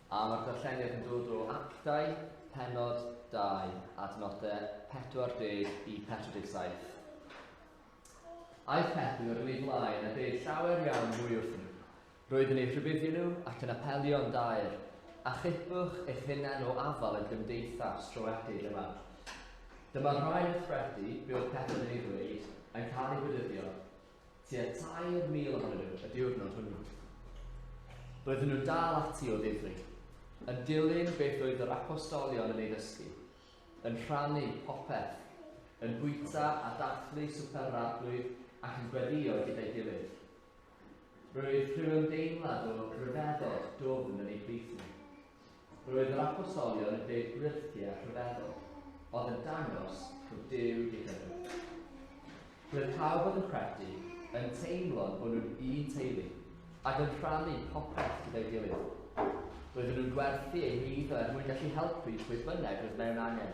A mae'r darlleniad yn dod o actau penod 2, adnodau 40 i 47. Aeth Pedr yn ei flaen a dweud llawer iawn mwy wrth nhw. Roedd yn eu rhybuddio nhw ac yn apelio yn daer, Achubwch eich hunain o afael y gymdeithas troeedig yma. Dyma rai o threthi be oedd pethau yn ei ddweud yn cael eu gwydyddio, tua 3,000 ohonyn nhw y diwrnod hwnnw. Roedden nhw'n dal ati o ddifri, yn dilyn beth oedd yr apostolion yn ei ddysgu, yn rhannu popeth, yn bwyta a dathlu swper yr Arglwydd ac yn gweddïo gyda'i gilydd. Roedd rhyw ymdeimlad o ryfeddod dwfn yn eu plith nhw. Roedd yr apostolion yn deud gwirthiau rhyfeddol, oedd yn dangos bod Duw gyda nhw. Roedd pawb oedd yn credu yn teimlo'n bod nhw'n un teulu ac yn rhannu popeth gyda'i gilydd. Roedden nhw'n gwerthu eu hyd er mwyn gallu helpu pwy bynnag oedd mewn angen.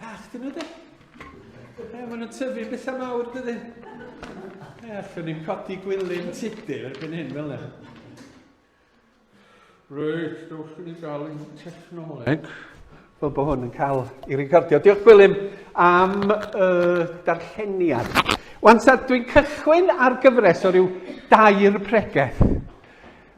Bach dyn nhw de. E, maen nhw'n tyfu bethau mawr dydyn. E, allwn ni'n codi gwylyn tudur erbyn hyn fel yna. Reit, dewch i ni gael ein technoleg. Fel bod hwn yn cael ei recordio. Diolch Gwilym am uh, darlleniad. Wan, dwi'n cychwyn ar gyfres o ryw dair pregeth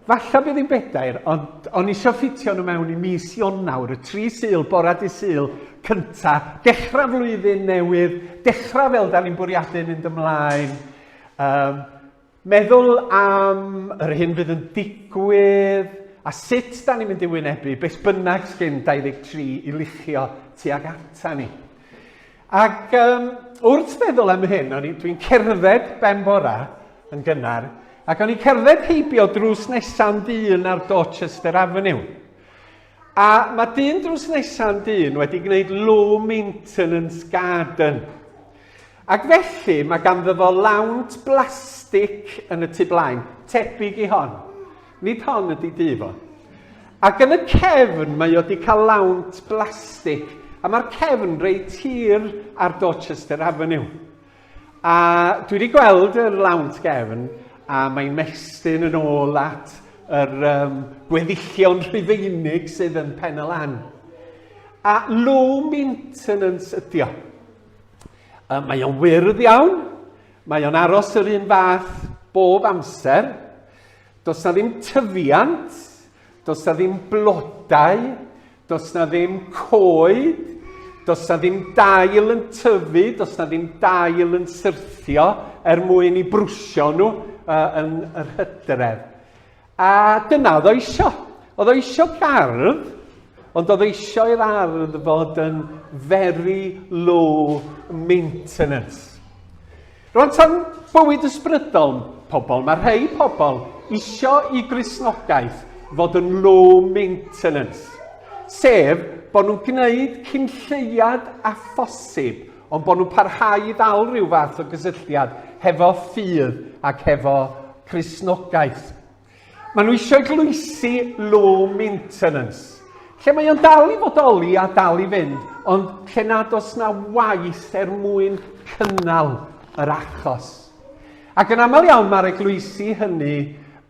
Falla bydd hi'n bedair, ond o'n i isio ffitio nhw mewn i mis Ionawr, y tri Sul, bora dy Sul cynta, dechrau flwyddyn newydd, dechrau fel da ni'n bwriadu mynd ymlaen. Um, meddwl am yr hyn fydd yn digwydd, A sut da ni'n mynd i wynebu beth bynnag sgyn 23 i luchio tuag ata ni? Ac um, wrth feddwl am hyn, o'n dwi'n cerdded ben bora yn gynnar, ac o'n i'n cerdded heibio drws nesa'n dyn ar Dorchester Avenue. A mae dyn drws nesa'n dyn wedi gwneud low maintenance garden. Ac felly mae ganddo fo lawnt blastig yn y tu blaen, tebyg i hon. Nid hon ydy difo. Ac yn y cefn mae o di cael lawnt blastig a mae'r cefn reit hir ar Dorchester Avenue. A dwi wedi gweld yr lawnt gefn a mae'n mestyn yn ôl at yr um, gweddillion rhufeinig sydd yn pen y lan. A low maintenance ydy o. Uh, mae o'n wyrdd iawn, mae o'n aros yr un fath bob amser, Does 'na ddim tyfiant, does 'na ddim blodau, does 'na ddim coed, does 'na ddim dail yn tyfu, does 'na ddim dail yn syrthio er mwyn i brwsio nhw uh, yn yr hydref. A dyna oedd o eisiau. Oedd o eisiau gardd, ond oedd o eisiau i'r ardd fod yn very low maintenance. Rwan tan bywyd ysbrydol pobl, mae rhai pobl isio i Gristnogaeth fod yn low maintenance, sef bod nhw'n gwneud cyn lleiad a phosib, ond bod nhw'n parhau i ddal rhyw fath o gysylltiad hefo ffydd ac hefo Cristnogaeth. Maen nhw eisiau glwysi low maintenance, lle mae o'n dal i fodoli a dal i fynd, ond lle nad os na waith er mwyn cynnal yr achos. Ac yn aml iawn mae'r eglwysi hynny,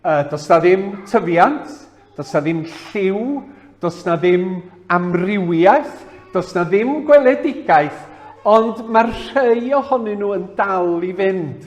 uh, does na ddim tyfiant, does na ddim lliw, does na ddim amrywiaeth, does na ddim gweledigaeth, ond mae'r rhai ohonyn nhw yn dal i fynd.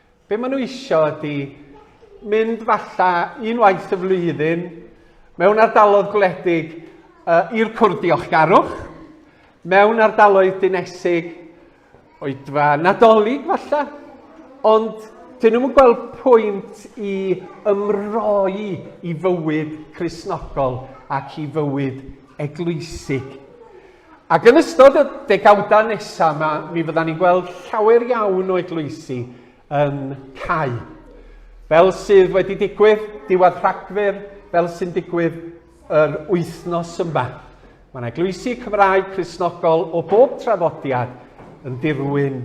Be maen nhw eisiau ydy mynd falla un waith y flwyddyn mewn ardalodd gwledig uh, i'r cwrdd diolchgarwch, mewn ardaloedd dinesig, oedfa nadolig falla, ond dyn nhw'n gweld pwynt i ymroi i fywyd chrysnogol ac i fywyd eglwysig. Ac yn ystod y degawdau nesaf yma, mi fyddan ni'n gweld llawer iawn o eglwysi yn cau. Fel sydd wedi digwydd diwedd Rhagfyr, fel sy'n digwydd yr wythnos yma. Mae'n eglwysi Cymraeg Cresnogol o bob trafodiad yn dirwyn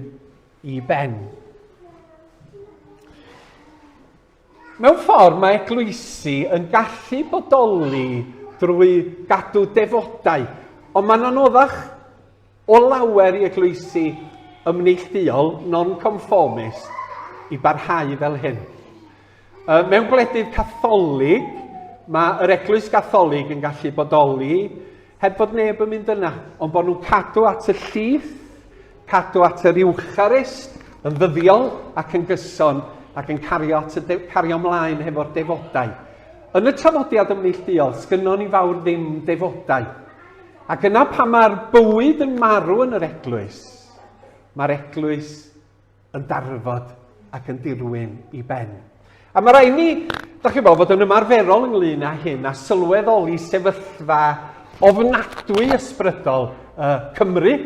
i ben. Mewn ffordd, mae eglwysi yn gallu bodoli drwy gadw defodau, ond mae'n anoddach o lawer i eglwysi ymneillduol, non-conformist, i barhau fel hyn. Uh, mewn gwledydd catholig, mae yr eglwys gatholig yn gallu bodoli Heb fod neb yn mynd yna, ond bod nhw'n cadw at y llif, cadw at yr Iwcharist, yn ddyddiol ac yn gyson, ac yn cario, at y cario mlaen hefo'r defodau. Yn y trafodiad yn neillduol, sgynnon ni fawr ddim defodau. Ac yna pan mae'r bywyd yn marw yn yr eglwys, mae'r eglwys yn darfod ac yn dirwyn i ben. A mae rhaid ni, da chi bod, fod yn ymarferol ynglyn â hyn a sylweddoli sefyllfa ofnadwy ysbrydol uh, Cymru,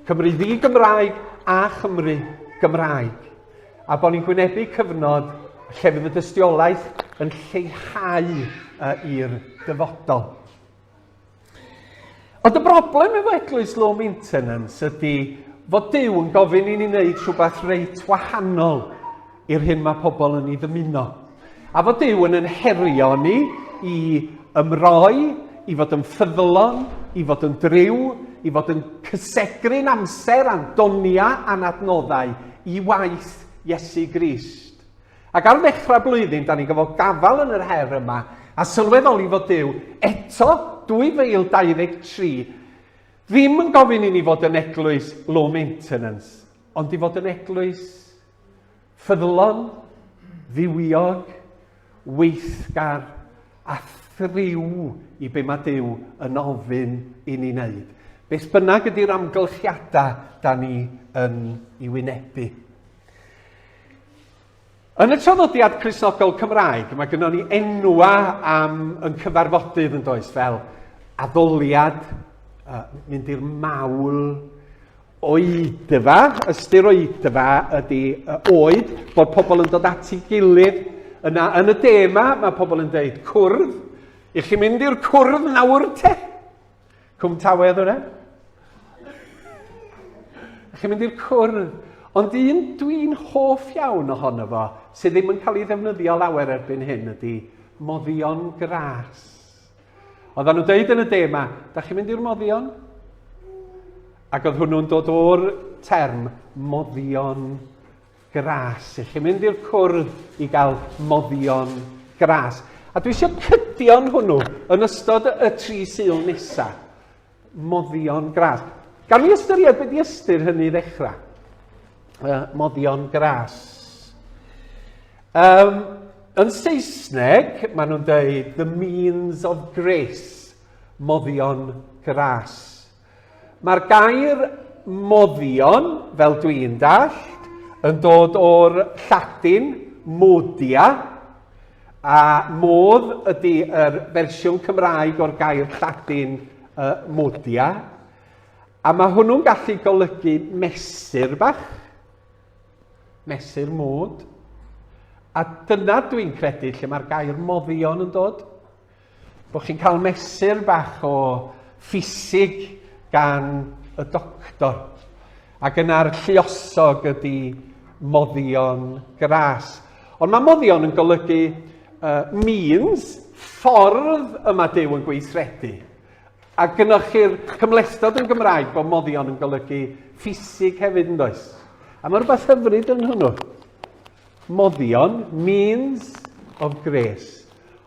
Cymru ddi-Gymraeg a Chymru Gymraeg a bod ni'n gwynebu cyfnod lle fydd y dystiolaeth yn lleihau uh, i'r dyfodol. Ond y broblem efo Eglwys Low Maintenance ydy fod Duw yn gofyn i ni wneud rhywbeth reit wahanol i'r hyn mae pobl yn ei ddymuno. A fod Duw yn ynherio ni i ymroi, i fod yn ffyddlon, i fod yn driw, i fod yn cysegru'n amser a'n doniau a'n adnoddau i waith Iesu Grist. Ac ar ddechrau blwyddyn, da ni'n gyfod gafael yn yr her yma, a sylweddoli fod Duw eto 2023 ddim yn gofyn i ni fod yn eglwys low maintenance, ond i fod yn eglwys ffyddlon, ddiwiog, weithgar a thriw i be mae Duw yn ofyn i ni wneud. Beth bynnag ydy'r amgylchiadau da ni yn ei wynebu. Yn y traddodiad Cristnogol Cymraeg, mae gynnon ni enwa am yn cyfarfodydd yn does, fel addoliad, uh, mynd i'r mawl, oedfa, ystyr oedfa ydy uh, oed, bod pobl yn dod at ei gilydd. Yna, yn y de yma, mae pobl yn dweud cwrdd. I chi mynd i'r cwrdd nawr te? Cwm Tawe oedd hwnna? Chi'n mynd i'r cwrdd. Ond un dwi'n hoff iawn ohono fo, sydd ddim yn cael ei ddefnyddio lawer erbyn hyn, ydy moddion gras. Oedden nhw'n deud yn y de yma, da chi'n mynd i'r moddion? Ac oedd hwnnw'n dod o'r term moddion gras i chi, mynd i'r cwrdd i gael moddion gras. A dwi eisiau cydion hwnnw yn ystod y tri syl nesa. Moddion gras. Gan ni ystyried beth i ystyr hynny ddechrau. Uh, moddion gras. Um, yn Saesneg, maen nhw'n dweud the means of grace, moddion gras. Mae'r gair 'moddion', fel dwi'n dallt, yn dod o'r Lladin 'modia', a 'modd' ydy yr fersiwn Cymraeg o'r gair Lladin uh, 'modia', a mae hwnnw'n gallu golygu mesur bach, mesur mod, a dyna dwi'n credu lle mae'r gair 'moddion' yn dod. Bod chi'n cael mesur bach o ffisig gan y doctor. Ac yna'r lluosog ydy moddion gras. Ond mae moddion yn golygu uh, means, ffordd y mae Dyw yn gweithredu. A gynnwch chi'r cymlestod yn Gymraeg bod moddion yn golygu ffisig hefyd yn does. A mae rhywbeth hyfryd yn hwnnw. Moddion, means of grace.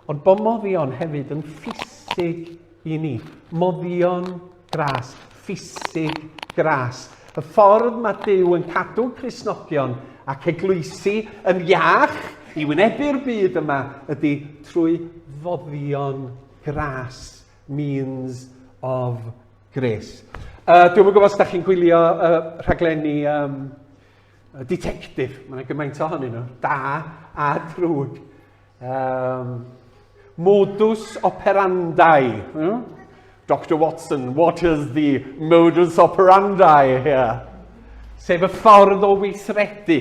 Ond bod moddion hefyd yn ffisig i ni. Moddion gras, ffisig gras. Y ffordd mae Dyw yn cadw Crisnogion ac eglwysi yn iach i wynebu'r byd yma ydy trwy foddion gras, means of grace. Uh, dwi'n gwybod os da chi'n gwylio uh, rhaglenni um, Y ditectif, mae yna gymaint ohonyn nhw, da a drwg. Um, modus operandi. Hmm? Dr Watson, what is the modus operandi here? Sef y ffordd o weithredu.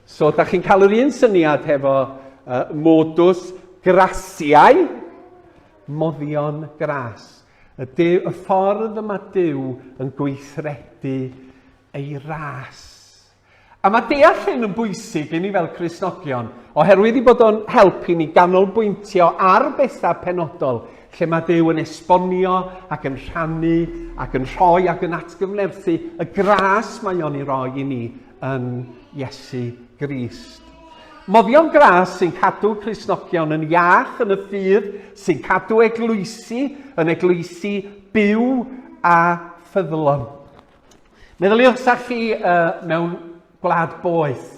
So, da chi'n cael yr un syniad hefo uh, modus grasiau, moddion gras. Y, dew, y ffordd yma Dyw yn gweithredu ei ras. A mae deall hyn yn bwysig i ni fel Cristnogion, oherwydd ei bod o'n helpu ni ganolbwyntio ar bethau penodol lle mae Duw yn esbonio ac yn rhannu ac yn rhoi ac yn atgyfnerthu y gras mae o'n ei roi i ni yn Iesu Grist. Moddion gras sy'n cadw Crisnogion yn iach yn y ffydd, sy'n cadw eglwysi yn eglwysi byw a ffyddlon. Meddyliwch sa chi uh, mewn gwlad boeth.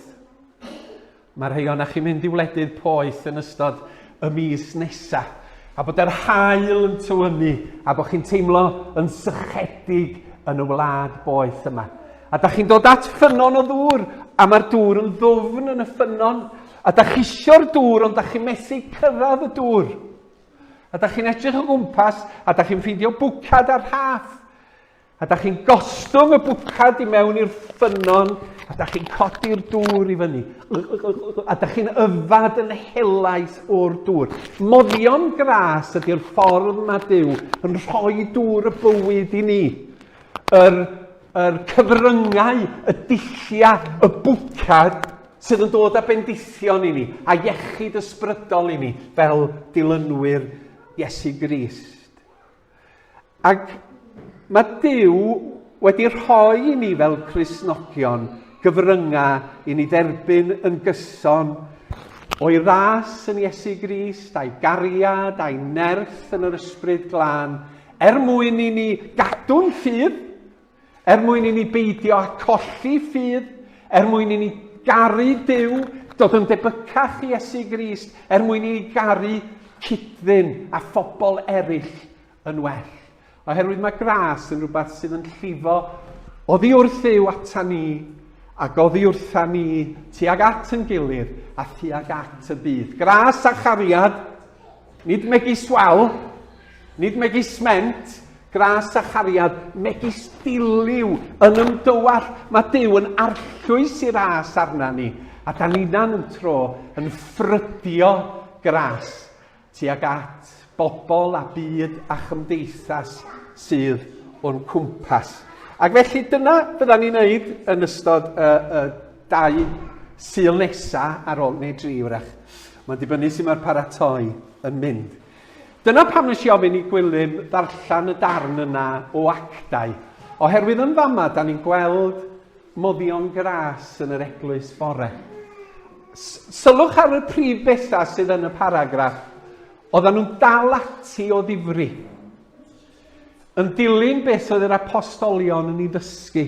Mae rhai o'na chi'n mynd i wledydd poeth yn ystod y mis nesa, a bod yr hael yn tywynnu, a bod chi'n teimlo yn sychedig yn y wlad boeth yma. A da chi'n dod at ffynnon o ddŵr, a mae'r dŵr yn ddwfn yn y ffynnon, a da chi isio'r dŵr, ond da chi'n methu cyrraedd y dŵr. A da chi'n edrych o gwmpas, a da chi'n ffeindio bwcad ar rhaff. A da chi'n gostwng y bwcad i mewn i'r ffynnon, a da chi'n codi'r dŵr i fyny, a da chi'n yfad yn helaeth o'r dŵr. Moddion gras ydy'r ffordd mae Dyw yn rhoi dŵr y bywyd i ni. Yr, yr cyfryngau, y dilliau, y bwcad sydd yn dod â bendithion i ni, a iechyd ysbrydol i ni, fel dilynwyr Iesu Grist. Ac mae Duw wedi rhoi i ni fel Cristnogion gyfryngau i ni dderbyn yn gyson o'i ras yn Iesu Grist, a'i gariad, a'i nerth yn yr ysbryd glân, er mwyn i ni gadw'n ffydd Er mwyn i ni beidio â colli ffydd, er mwyn i ni garu Duw, dod yn debycach i Iesu Grist, er mwyn i ni garu cydddyn a phobl eraill yn well. Oherwydd mae gras yn rhywbeth sydd yn llifo oddi wrth yw ata ni ac oddi wrtha ni tuag at yn gilydd a thuag at y byd. Gras a chariad Nid megis wal, nid megis ment, gras a chariad, megis diliw yn ymdywall. Mae Dyw yn arllwys i ras arna ni, a da ninan yn tro yn ffrydio gras tuag at bobl a byd a chymdeithas sydd o'n cwmpas. Ac felly dyna bydda ni'n neud yn ystod y, y Dau Sul nesa ar ol, neu dri wrach. Mae'n dibynnu sy'n mae'r paratoi yn mynd. Dyna pam nes i ofyn i Gwilym ddarllen y darn yna o actau, oherwydd yn fama da ni'n gweld moddion gras yn yr eglwys fore. Sylwch ar y prif bethau sydd yn y paragraff. Oedden nhw'n dal ati o ddifri. Yn dilyn beth oedd yr apostolion yn ei ddysgu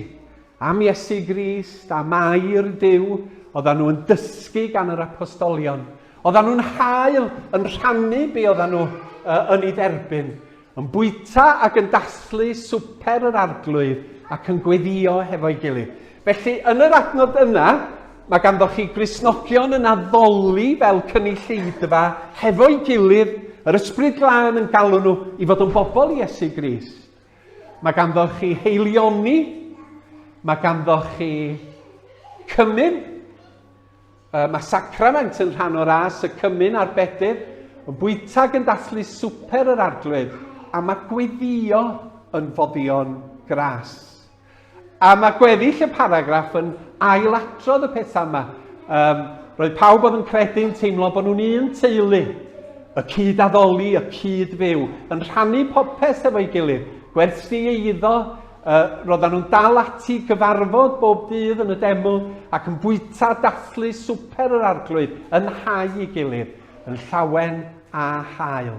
am Iesu Grist, am air Duw, oedden nhw yn dysgu gan yr apostolion. Oedden nhw'n hael yn rhannu be oedden nhw uh, yn ei dderbyn, yn bwyta ac yn dathlu swper yr arglwydd ac yn gweddio hefo'i gilydd. Felly, yn yr adnod yna, mae ganddoch chi Gristnogion yn addoli fel cynulleidfa hefo'i gilydd, yr Ysbryd Glân yn galw nhw i fod yn bobl Iesu Grist. Mae ganddoch chi heilioni, mae ganddoch chi cymyn, mae sacrament yn rhan o'r as, y cymyn a'r bedydd, yn bwytag yn dathlu swper yr arglwydd, a mae gweddio yn foddion gras. A mae gweddill y paragraff yn ailadrodd y pethau yma. Um, roedd pawb oedd yn credu'n teimlo bod nhw'n un teulu, y cyd addoli, y cyd fyw, yn rhannu popeth efo'i gilydd, gwerthu ei iddo, uh, roedden nhw'n dal ati gyfarfod bob dydd yn y deml ac yn bwyta dathlu swper yr arglwydd yn hau i gilydd, yn llawen a hael.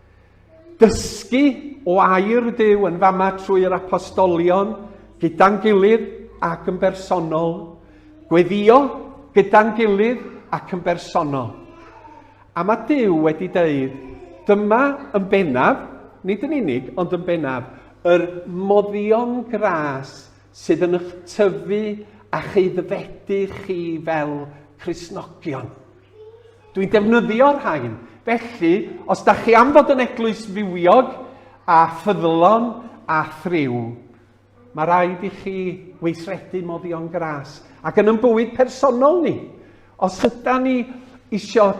Dysgu o air Duw yn fama trwy yr apostolion, gyda'n gilydd ac yn bersonol. Gweddio gyda'n gilydd ac yn bersonol. A mae Duw wedi dweud, dyma yn bennaf, nid yn unig, ond yn bennaf, yr moddion gras sydd yn eich tyfu a'ch aeddfedu chi fel Cristnogion. Dwi'n defnyddio rhain, felly os da chi am fod yn eglwys fywiog a ffyddlon a thriw, mae rhaid i chi weithredu moddion gras. Ac yn ymbywyd personol ni, os yda ni eisiau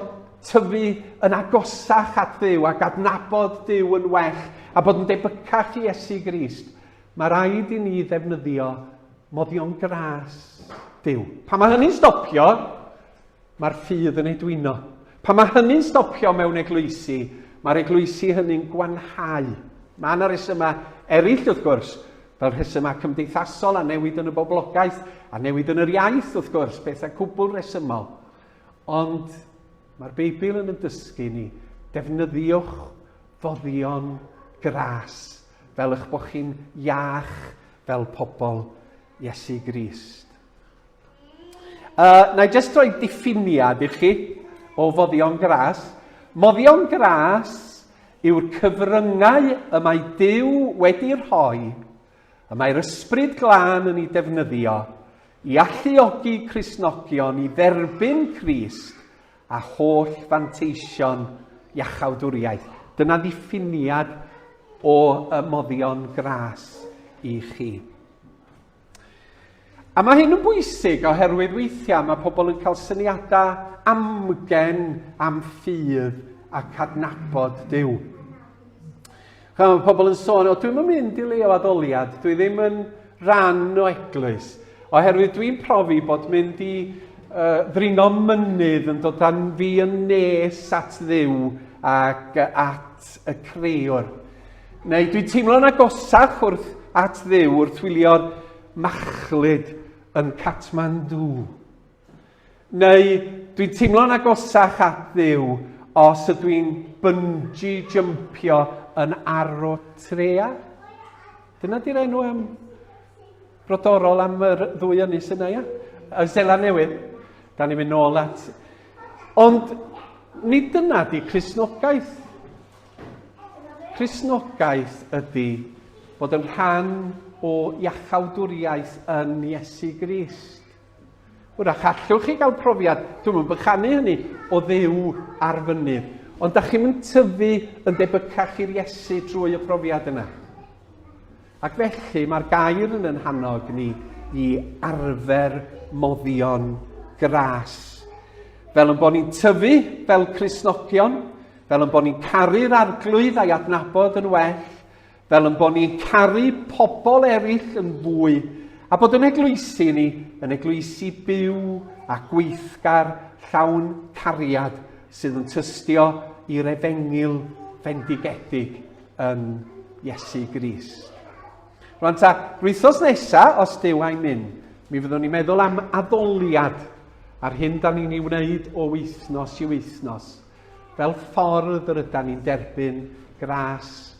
tyfu yn agosach at ddiw ac adnabod diw yn well a bod yn debycach i Iesu Grist, Mae rhaid i ni ddefnyddio moddion gras Duw. Pan mae hynny'n stopio, mae'r ffydd yn ei dwyno. Pan mae hynny'n stopio mewn eglwysi, mae'r eglwysi hynny'n gwanhau. Mae yna resymau eraill, wrth gwrs, fel rhesymau cymdeithasol a newid yn y boblogaeth a newid yn yr iaith, wrth gwrs, pethau cwbl resymol. Ond mae'r Beibl yn y dysgu ni, defnyddiwch foddion gras Fel eich bod chi'n iach fel pobl Iesu Grist. Uh, na i jyst roi diffiniad i chi o foddion gras. Moddion gras yw'r cyfryngau y mae Dyw wedi rhoi, y mae'r ysbryd glân yn ei defnyddio i alluogi Crisnogion i dderbyn Crist a holl fanteision iachawdwriaeth. Dyna ddiffiniad o ymoddion gras i chi. A mae hyn yn bwysig oherwydd weithiau mae pobl yn cael syniadau amgen am ffydd a cadnabod Dyw. Chwa, mae pobl yn sôn, o dwi'm yn mynd i le o addoliad, dwi ddim yn rhan o eglwys. Oherwydd dwi'n profi bod mynd i uh, ddringo mynydd yn dod â'n fi yn nes at ddiw ac at y creiwr. Neu dwi'n teimlo'n agosach wrth at ddiw wrth wylio'r machlud yn Kathmandu. Neu, dwi'n teimlo'n agosach at Dduw os ydw i'n bynji jympio yn arw trea. Dyna di'r enw am brodorol am yr ddwy ynys yna, ia? Y Sela Newydd. Da ni'n mynd nôl at... Ond nid dyna di Cresnogaeth. Cresnogaeth ydy bod yn rhan o iachawdwriaeth yn Iesu Grist. Hwyrach allwch chi gael profiad, dwi'm yn bychanu hynny, o Dduw ar fynydd. Ond da chi'm yn tyfu yn debycach i'r Iesu drwy y profiad yna. Ac felly mae'r gair yn yn hannog ni i arfer moddion gras. Fel yn bod ni'n tyfu fel Crisnogion, fel yn bod ni'n caru'r arglwydd a'i adnabod yn well, fel yn bod ni'n caru pobl eraill yn fwy a bod yn eglwysi ni yn eglwysi byw a gweithgar llawn cariad sydd yn tystio i'r efengil fendigedig yn Iesu Gris. Rwan ta, rwythos nesa, os dyw a'i mynd, mi fyddwn ni'n meddwl am addoliad a'r hyn da ni'n ei wneud o wythnos i wythnos, fel ffordd yr yda ni'n derbyn gras